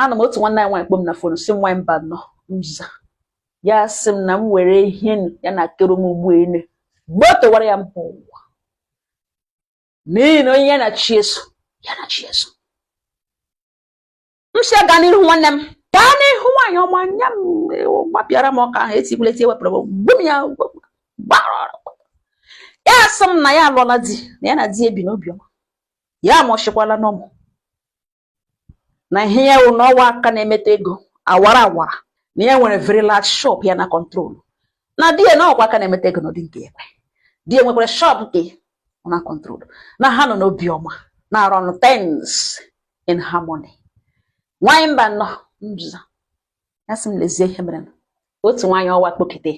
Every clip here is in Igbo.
ana m otu nwanne anyị nwaanyị kpọ m na fon sị m nwaanyị Mbanọ m za ya sị m na m were ihe ya na-akọrọ m ugbu a gbotowara ya mba ụwa n'ihi na onye ya na chi eso ya na chi eso m sị ya gaa n'ihu nwanne m gaa n'ihu nwaanyị ọma nya m gbapịara m ọka ahụ etikwula eti ewepụrụ m gbu m ya gbara ya sị m na ya alụọla di na ya na di ya bi n'obiọma ya amụchikwala n'ụmụ na ihe ya wụ na ọwa aka na-emeta ego awara awara na ya nwere very large shop ya na-control na di ya nọkwa aka na-emeta ego n'ụdị nke ekwe di ya nwekwara shop nke ọ na-control na ha nọ n'obi ọma na run things in harmony nwanyị Mbanọ m za ya sị m lezie ihe mere otu nwaanyị ọwa kpọkete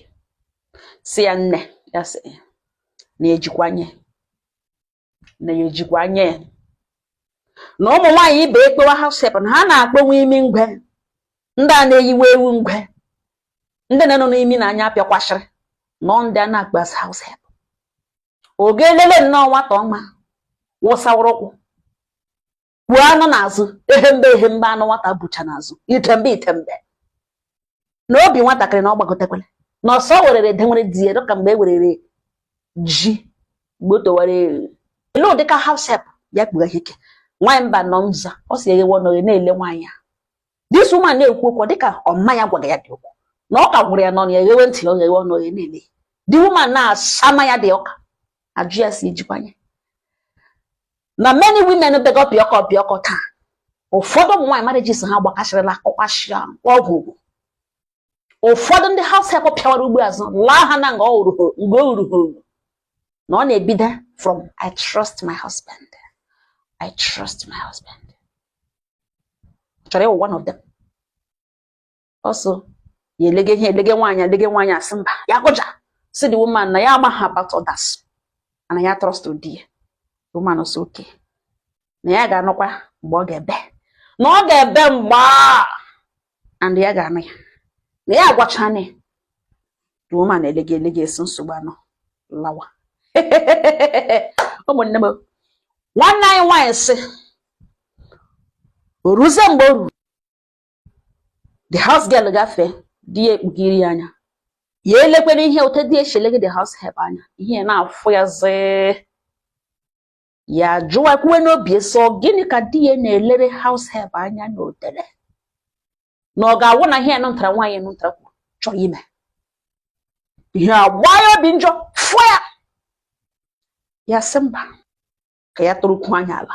sị ya nne ya sị na ejikwa anya ya na ya ejikwa anya ya na ụmụ nwaanyị ibe e kpọwa house help na ha na-akpọ nwa imi ngwe ndị a na-eyiwe ewu ngwe ndị na ọnụ na imi na anya pịakwasịrị nnọọ ndị a na-akpọ as house help ọ ga elele nnọọ nwata ọma wụsawụrụ ukwu kpu anụ n'azụ ehembe ehembe anụ nwata bucha n'azụ itembe itembe na obi nwatakịrị na ọ gbagotekwere n'ọsọ werere denwere di ya dịka mgbe e werere ji gbotowara ewu lee ụdịka house help ya kpughe ike nwaanyị Mbanọ m za ọ sị ya eghewe ọnụ oghe na-ele nwaanyị ya this woman na-ekwu okwu dịka ọ ma ya gwara ya ụdị okwu na ọka gwụrụ ya n'ọnụ ya eghewe ntị ya eghewe ọnụ oghe na-ele the woman na-asama ya ụdị ọka ahụ ya sị ya jikwa anya ya na many women bega pịọkọ pịọkọ taa ụfọdụ ụmụ nwaanyị marriages ha gbakasịrịla kọkwashịa ọgwụ ụfọdụ ndị house help pịawara ugbo azụ laa ha na nga o ruru mgbe o ruru ha na ọ na-ebido from I trust my husband I trust my husband ọ chọrọ ịwụ one of them ọ sị ya elege ihe elege nwaanyị a elege nwaanyị a sị mba ya kụja sị the woman na ya amaghị about others na ya trust di ya woman sị okay na ya ga-anụkwa mgbe ọ ga-ebe na ọ ga-ebe mgbe a and ya ga-anụ ya na ya agwachana ya the woman elege elege sị nsogbu anọ lawa ụmụnne m nwanne anyị nwaanyị sị o ruzie mgbe o ruru the house girl gafee di ya ekpugiri ya anya ya elekwara ihe otu di ya shi elege the house help anya ihe na-afụ ya zee ya jụwa kwuwe n'obi so gịnị ka di ya na-elere house help anya na odere na ọ ga-awụ na ihe nụntara nwaanyị nụntara kwuru chọọ ime ihe agba ya obi njọ fụ ya ya sị mba ka ya tụrụkwu anya ala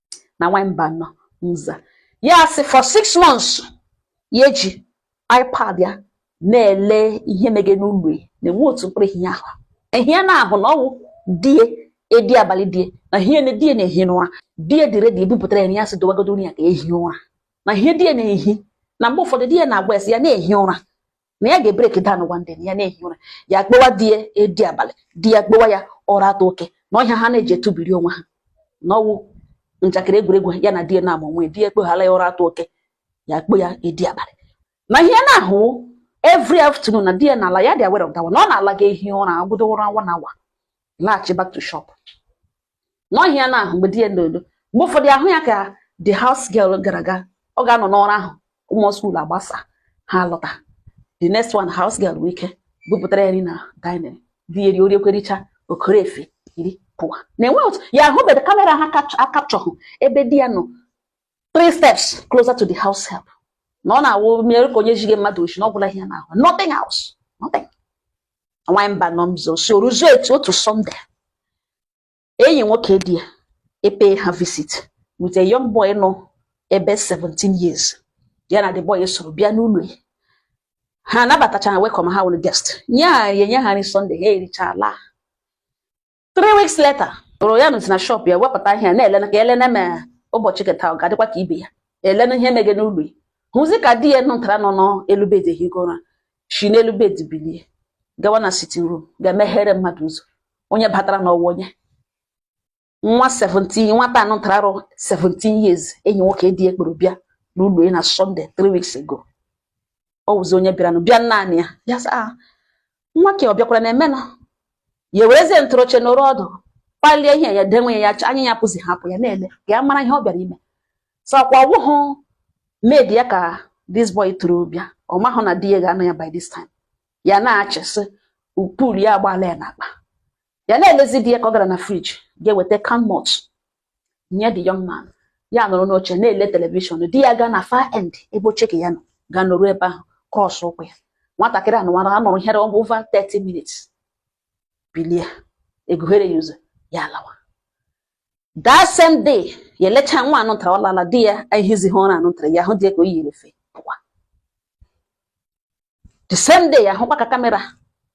na nwaanyị Mbano nza ya sị for six months ya eji ipad ya na-ele ihe mege n'ụlọ ya na-enwe otu mkpụrụ ihe ahụ ihe ya na-ahụ na ọ wụ di ya edi abalị di ya na ihe na di ya na-ehi n'ụra di ya dị ready ebupụtara ya nri ya sị dowagodo nri ya ka ehi ụra na ihe di ya na-ehi na mgbe ụfọdụ di ya na-agwa ya sị ya na-ehi ụra na ya ga-ebreak down one day ya na-ehi ụra ya kpọwa di ya edi abalị di ya kpọwa ya ụra atọ oke na ọ wụ aha ha na-eji etubiri onwe ha na ọ wụ njakịrị egwuregwu ya na di ya na-amụ onwe di ya akpọghala ya ụra atọ oke ya kpọ ya edi abalị na ihe ya na-ahụ every afternoon na di ya na-ala ya dị aware of that one ọ na-ala ga-ehi ụra agwụdo ụra one hour laghachi back to shop na ọ wụ ihe ya na-ahụ mgbe di ya nọ n'ụlọ mgbe ụfọdụ ya hụ ya ka the house girl gara aga ọ ga-anọ n'ụra ahụ ụmụ skuul agbasa ha lọta the next one house girl bụ ike bupụtara ya nri na dining di ya eri o riekwa richa ọ kọrọ efe yiri pụwa na-enwe otu ya ahụbeghị kamera ha akapchọhụ ebe di ya nọ three steps closer to the house help na ọ na-awụ mere ka onye jige mmadụ oshi na ọ gwụla ihe ya na-ahụ nothing else nothing nwaanyị Mbano mzo sị o ruzu etu otu sọnde enyi nwoke di ya epay ha visit with a young boy nọ ebe 17 years ya na the boy soro bịa n'ụlọ ya ha anabatacha ha welcome ha wụrụ guest nye ha enye ha nri sọnde ha ericha laa three weeks later o ruo ya nọzi na shop ya wepụta ihe na-elena ka elena ma ụbọchị keta ọ ga-adịkwa ka ibe ya elena ihe mege n'ụlọ ya hụzi ka di ya lọtara nọ n'elu bed ehigo ụra si n'elu bed bilie gawa na sitting room ga-emeghere mmadụ ụzọ onye batara na ọ wụ onye nwa 17 nwata anụ ntara arọ 17 years enyi nwoke di ya kpọrọ bịa n'ụlọ ya na sọnde 3 weeks ago ọ wụzi onye bịaranụ bịa naanị ya ya sị ah, nwa ke ọ bịakwara na emena ya ewerezie ntụrụ oche nọrọ ọdụ palie ihe ya denwe ya anya ya pụzi hapụ ya na-ele ka ya mara ihe ọ bịara ime so ọkwa ọ wụhụ maid ya ka this boy chọrọ bịa ọ mahụ na di ya ga-anọ ya by this time ya na-achịsị pul ya agbaala ya n'akpa ya na-elezi di ya ka ọ gara na friji ga-eweta can malt nye the young man ya nọrọ n'oche na-ele telivishọn di ya gaa na far end ebe oche ke ya nọ gaa nọrọ ebe ahụ cross ụkwụ ya nwatakịrị anụwa anọrọ ihe over 30 minutes bilie egughere ya ụzọ ya alawa that same day ya elecha nwa anọtara ọ lala di ya ehizighị ụra anọtara ya ahụ di ya ka o yiri efe pụwa the same day ya hụkwa ka kamera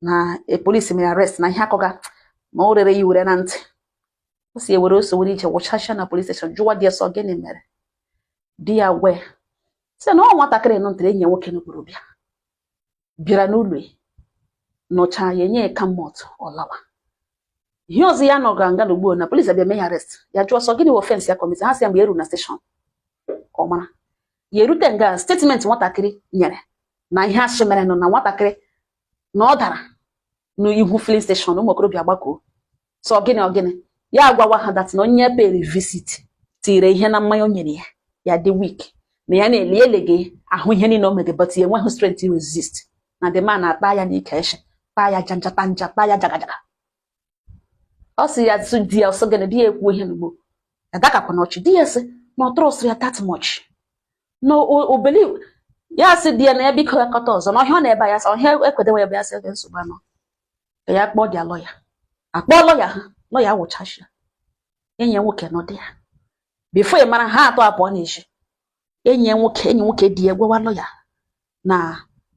na e, police mere arrest na ihe a kọga ma o rere ya ure na ntị o si ewere ọsọ were ije wụchasịa na police station jụwa di ya sị ọ gịnị mere di ya wee sị na ọ nwatakịrị nọ ntere enyi ya nwoke n'okpuru bịa bịara n'ụlọ ya nọcha ya enye ya can malt ọ lawa ihe ọzọ ya nọ gara nga na ugbu na police abịa mee ya arrest ya jụọ sị ọ gịnị wụ offence ya commit ha sị ya mgbe eru na station ka ọ mara ya erute nga statement nwatakịrị nyere na ihe a sị mere nọ na nwatakịrị na ọ dara n'ihu filling station ụmụ okorobịa gbakoo sị ọ gịnị ọ gịnị ya agwawa ha that na onye ya pere visit tiire ihe na mmanya o nyere ya ya dị weak na ya na-ele ele ga-ahụ ihe niile o mere but ya enweghị strength resist na the man akpa ya n'ike nshị kpaa ya janjata nja kpaa ya jagajaga ọ sị ya sị di ya ọ sị gịnị di ya ekwu ihe n'ugbo adakakwa n'ọchị di ya sị na ọ trust ya that much na o believe ya sị di ya na ya biko ya kọta ọzọ na ọhịa ọ na-ebe ya sị ọhịa ekwedewe ya bụ ya sị okay nsogbu anọ ka ya kpọọ their lawyer akpọọ lawyer ha lawyer wụchashịa enyi ya nwoke nọ di ya before ị mara ha atọ apụọ n'ezi enyi ya nwoke enyi nwoke di ya gwawa lawyer na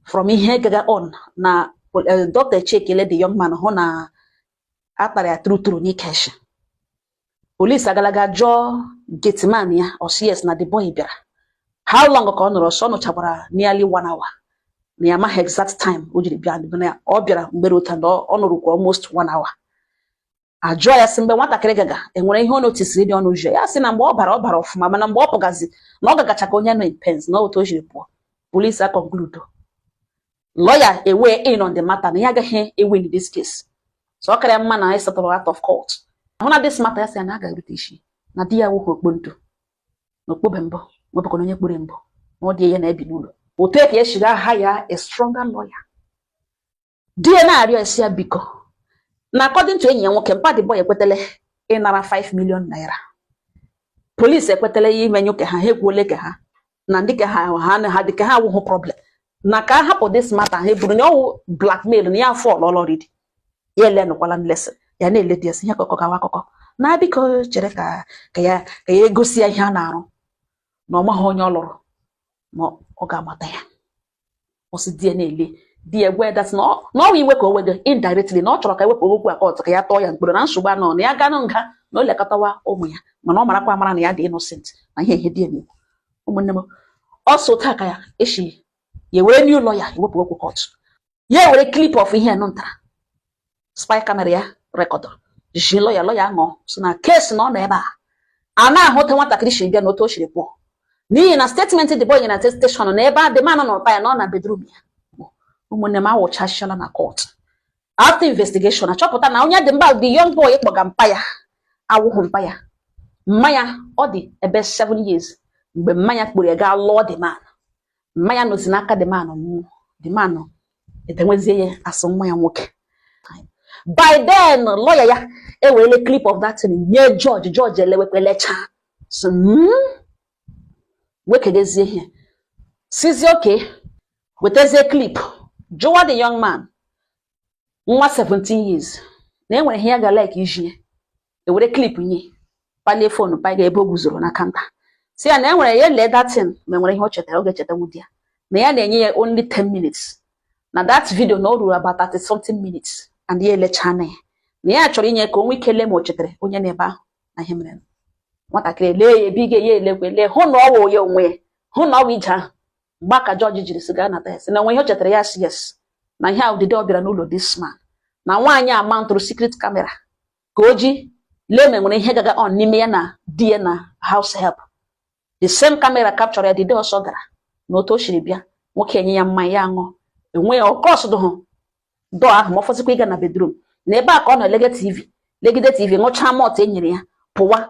from ihe gaga on na eh, dọkịta echekiele the young man hụ na a kpara ya true true n'ike nshị police agalaga jụọ gateman ya ọ sị yes na the boy bịara how long ka ọ nọrọ ọ sị ọ nọchakwara nearly one hour na ya amaghị exact time o jiri bịa ọ bịara mgbere ụta na ọ nọrọkwa almost one hour ajụọ ya sị mgbe nwatakịrị gaga enwere ihe ọ notisiri dị unusual ya sị na mgbe ọ bara ọ bara ọfụma mana mgbe ọ pụgazi na ọ gagacha ka onye nọ in pains na otu o jiri pụọ police aconcludo lawyer eweigh in on the matter na ya agaghị ewin this case so ọ kara mma na anyị settle out of court ahụ na this matter ya sị ya na a ga-erute isi na di ya nwoke ọkpọ ntu na okpobe mbọ nwebụkwa na onye kpere mbọ na ọ di ya na-ebi n'ụlọ otu ka ya shiga hire a stronger lawyer di ya na-arịọ ya sị ya biko na according to enyi ya nwoke mpa the boy ekwetele ịnara 5 million naira police ekwetele ya imenye ka ha ha ekwuole ke ha na ndị ke ha ha na ha dị ke ha awụghụ problem na ka a hapụ this matter ha bụrụ na ọ wụ blackmail na ya afall already ya elenụkwala nlesị ya na-ele di ya sị ya akụkọ gawa akụkọ na biko chere ka ka ya ka ya egosi ya ihe a na-arụ na ọ maghị onye ọ lụrụ ma ọ ga-amata ya ọ sị di ya na-ele di ya gwa that na ọ wụ iwe ka o wego indirectly na ọ chọrọ ka ewepụ okwu a court ka ya tụọ ya mkpọrọ na nsogbu anọ na ya ga-anọ nga na o lekọtawa ụmụ ya mana ọ marakwa amara na ya dị innocent na ihe ihe di ya na-ekwu ụmụnne m ọsọ taa ka ya echi ya ewere new lawyer ewepụ okwu court ya ewere clip of ihe nụ ntara spy camera ya rekọdụrụ ji lọya lọya ṅụọ si na kesi na ọ nọ ebe a a na-ahụta nwatakịrị si bịa na otu o siri pụọ n'ihi na statement the boy na steshọn na ebe a the man nọ na ụkpa ya na ọ na bedroom ya ụmụnne m awụchachala na kọt after investigation achọpụta na onye dị mba the young boy kpọga mpa ya awụghị mpa ya mma ya ọ dị ebe 7 years mgbe mma ya kpụrụ ya gaa lụọ the man mma ya na o si n'aka the man nwụọ the man edewezie ya as nwa ya nwoke by then lọya ya ewerele clip of that thing nye jọji jọji elewe clip lechaa so hmm? wekedezie ihe sizie okay wetazie clip jụwa the young man nwa 17 years na enwere ihe ya ga like ijinye ewere clip nye palie phone paga ebe o guzoro na kanta si ya na enwere ya lee that thing ma enwere ihe o chetara ọ ga-echeta nwudi ya na ya na-enye ya only 10 minutes na that video na o ruru about 30 something minutes and ya elechaa na ya na ya chọrọ inye ka o nwee ike lee ma o chetara onye nọ ebe ahụ na ihe mere nwatakịrị lee ya ebe ị ga-enye elekwe lee hụ na ọ wụ ya onwe ya hụ na ọ wụ ije ahụ mgbe a ka jọji jiri si ga-anata ya si na enwere ihe o chetara ya si yes na ihe a wụ the day ọ bịara n'ụlọ this man na nwaanyị a mountụrụ secret camera ka o ji lee ma nwere ihe gaga on n'ime ya na di ya na house help the same camera capture ya the day ọsọ gara na otu o siri bịa nwoke enye ya mmanya ya ṅụọ enweghị ọ cross dụhụ door ahụ ma ọ fọzikwa ịga na bedroom na ebe a ka ọ na-elege tv legide tv ṅụchaa malt e nyere ya pụwa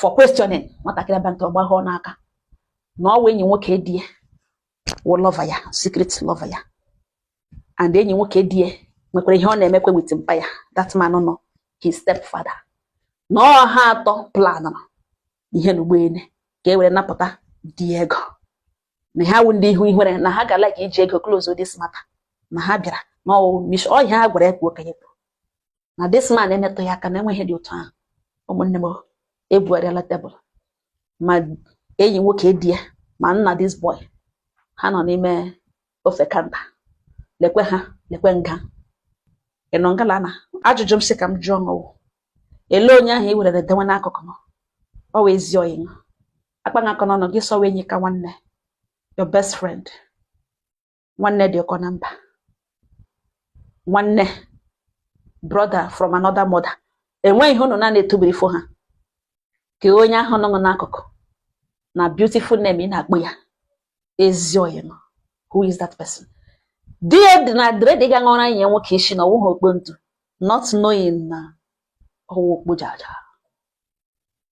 for questioning nwatakịrị abịa ntọ gbagha ọnụ aka na ọ wụ enyi nwoke di ya wụ lover ya secret lover ya and enyi nwoke di ya nwekwara ihe ọ na-emekwe with mpa ya that man nọ his step father na ọ ha atọ planụrụ ihe na ụgbọelu ka e were napụta di ya ego na ha wụ ndị ihu ihere na ha ga-like iji ego close this matter na ha bịara na ọ wụ ihe ha gwara ya ka o kwuo na this man emetụghị ya aka na enweghị ihe dị otu ahụ ụmụnne m ebugharịala table ma enyi nwoke di ya ma nna this boy ha nọ n'ime ofe kanta lekwe ha lekwe nga ị nọ ngala na ajụjụ m sị ka m jụọ unu wụ ele onye ahụ i werere dewe n'akụkụ ma ọ wụ ezi oyi akpa akọ n'ọnụ gị sị ọ wụ enyi ka nwanne your best friend nwanne dị ụkọ na mba nwanne brother from another mother enweghị ihe unu na-ana etubiri fo ha ke onye ahụ nọ n'akụkụ na beautiful name ị na-akpọ ya ezi oyi nọ who is that person di ya na-adị ready ga ṅụra enyi nwoke isi na ọ wụ okpo ntu not knowing na ọ wụ okpo jaja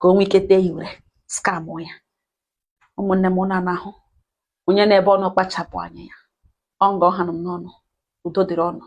ka o nwee ike tee ya were scam ya ụmụnne m unu na-ahụ onye na ebe ọ nọ kpachapụ anya ya ọ nga ọ hanụ m n'ọnụ udo dịrị unu